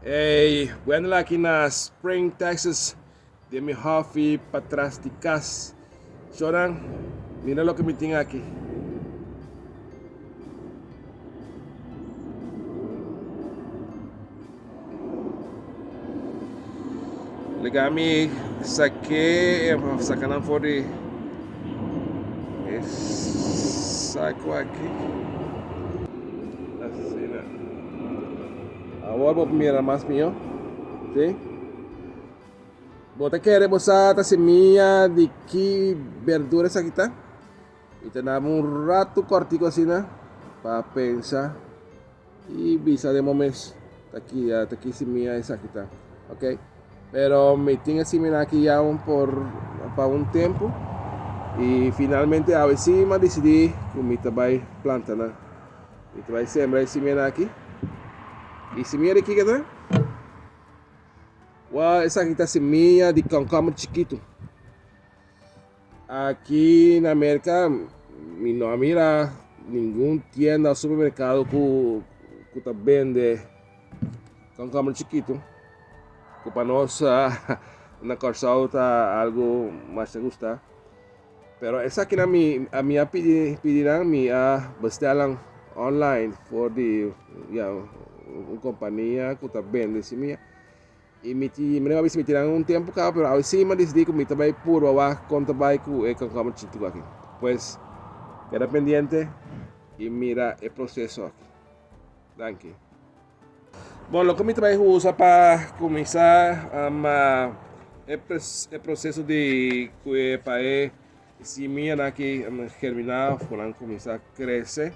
Hey, Wendell aki na Spring, Texas, den mi hofi patras di kas. Shonan, mira loke mi tin aki. Lega mi sake e sakanan for di e sako aki. Awor bo mira mas mihó. Si? Bo ta kere bo sa ta semia di ki berdura esaki ta? I ta naba un ratu kòrtiku asina pa pensa i bisa den bo mes, Ta ki, ta ki semia esaki ta. Oke, pero mi tin e semina aki ya un por, pa un tempu i finalmente awe si mi a disidí ku mi ta bai planta nan. I ta bai sembra e simienta aki. I simienta di kiko ta? Wou, esaki ta semilla di cucumber chikitu. Aki na America mi no a mira ningun tienda o supermercado cu, cu ta bende cucumber chikitu. Cu pa nos ah, na Curaçao ta algo masha gusta. Pero esakinan mi a mi a pidi pidinan mi a bestelnan online for di ya un kompania ku ta bende si mia i mi ti mi no a bisa mi tinnan un tempu kaba pero awe sima di sdi ku mi ta bai purba wak kon ta bai ku e kòmpania chitu ku aki pues keda pendiente i mira e proseso aki danki. Bon loke mi ta bai usa pa cuminsa ma e proceso di cue pa e simia nan aki germina of cu nan cuminsa crece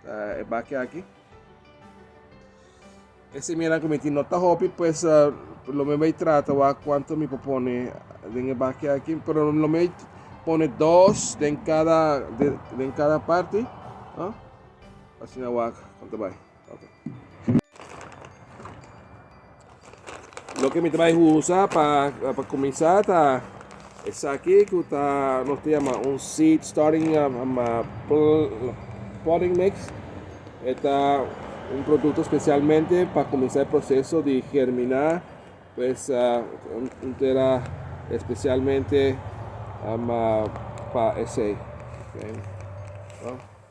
ta e baki aki. E simia nan cu mi tin no ta hopi pues lo mi bai trata wa cuanto mi por pone den e baki aki pero lo mi pone dos den cada den cada parti asina wa con ta bai. Loke mi ta bai usa pa pa kuminsá ta esaki ku ta nos ta yama un seed starting potting mix. E ta un produkto spesialmente pa kuminsá e proseso di germiná pues un tera spesialmente pa esei.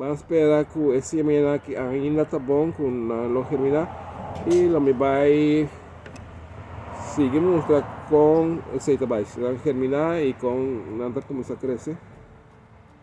Ban spera cu e siemena aki ainda ta bon cu nan lo germina y lo mi bay sigui mustra con esey ta bay. Si nan germina y con nan ta cuminsa crece.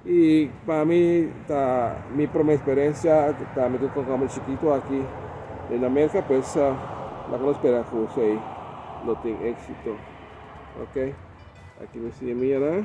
Y pa mi ta mi prome experiencia ta mi cu concamel chikito aki den na Merca pues nan lo spera cu esey lo tin exito. Ok, aki mi siemianan.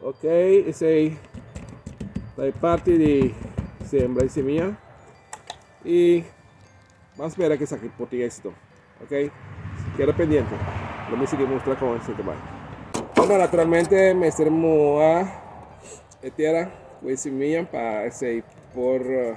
Ok esey ta e parti di sembra e semia y vamos espera que saki por tin éxito. Ok, queda pendiente. Lo me sigue mostrar con éxito bay. Bueno, naturalmente mester moa e tierra con e semia para esey por uh,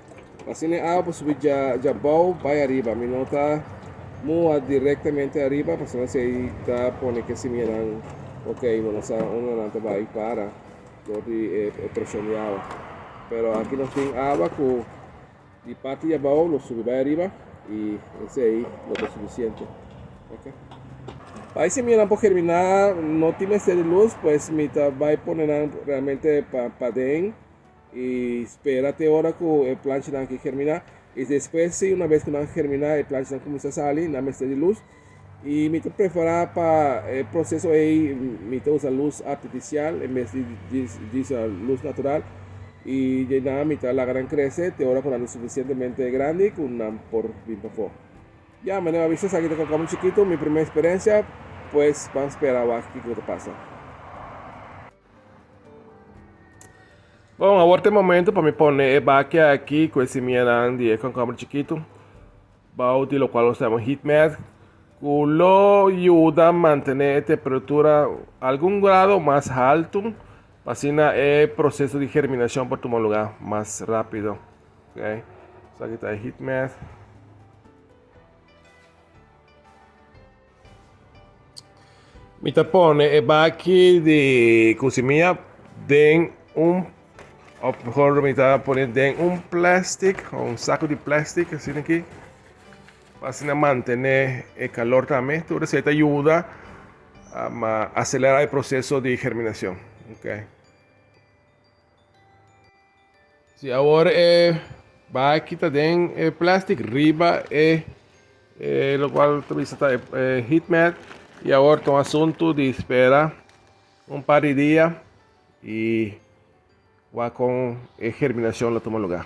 Asina e awa por subi dja dja bou bai ariba, mi no ta mua directamente ariba pasobra si ei ta pone ki e simianan ok mi no sa unda nan ta bai para dor di e e presion di awa. Pero aki nos tin awa cu di parti dja bou lo subi bai ariba y esey lo ta suficiente, ok. Pa e simianan por germina no tin mester di luz pues mi ta bai pone nan realmente pa paden. E spera te ora ku e planchanan ke germiná i despues si una bes ku nan germiná e planchanan kuminsá sali nan mester di lus i mi ta prepará pa e proseso ei mi ta usa lus artifisial en bes di usa lus natural i dje nan mi ta laga nan krese te ora ku nan ta sufisientemente grandi ku nan por bin pafó. Ya mi a niga bisha esaki ta koko mi chikitu mi primé eksperensia pues ban spera wak kiko ta pasa. Bon, awor t'e momento pa mi pone e bakia aki ku e simianan di e konkomber chikitu, bou di lokual nos ta yama heat mat, ku lo yuda mantené e temperatura algun grado mas haltu, pa asina e proseso di germinashon por tuma lugá mas rápido. Ok, esaki ta e heat mat. Mi ta pone e baki di cu si mi a den un of mejor mi ta pone den un plastic o un saco di plastic así aquí pa así na mantener e calor también tur esei ta yuda um acelera e proceso di germinacion okay. Si awor e baki ta den e plastic riba e e lo cual ta bisa ta e, e heat mat y awor ta un asunto di spera un par di dia y wak con e germinacion lo tuma lugar.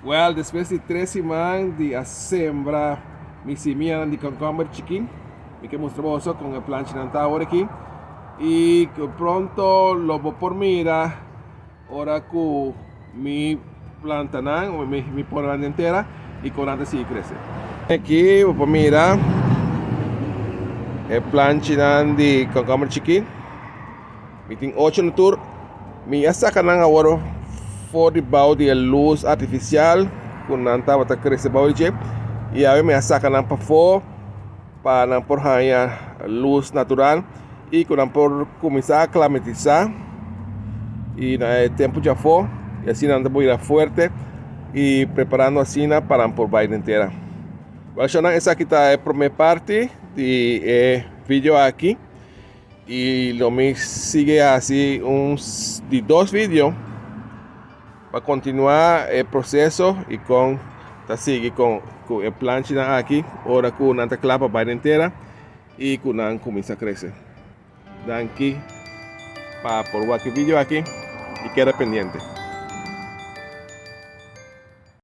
Well, despues di tres siman di a sembra mi simianan di concomber chikin, mi ke mustra boso kon e planchanan ta awor aki, y pronto lo bo por mira ora ku mi plantanan, mi pone nan den tera y kon nan ta sigui krese. Aki bo por mira e planchanan di concomber chikin. Mi tin ocho na tur. Mi a saca nan awor for di bouw di e luz artificial cu nan tabata crece bouw di dje. Y awe mi a saca nan pafo pa nan por haya luz natural y cu nan por cuminsa aclamatiza. Y na e tempo dje afo, y asina nan ta por bira fuerte y preparando asina pa nan por bay den tera. Wel, shownan, esaki ta e prome parti di e video aki. Y lo mi sigue haci un di dos video pa continua e proceso y con ta sigui con cu e planchinan aki ora cu nan ta cla pa bay den tera y cu nan cuminsa crece. Danki pa por wak e video aki y keda pendiente.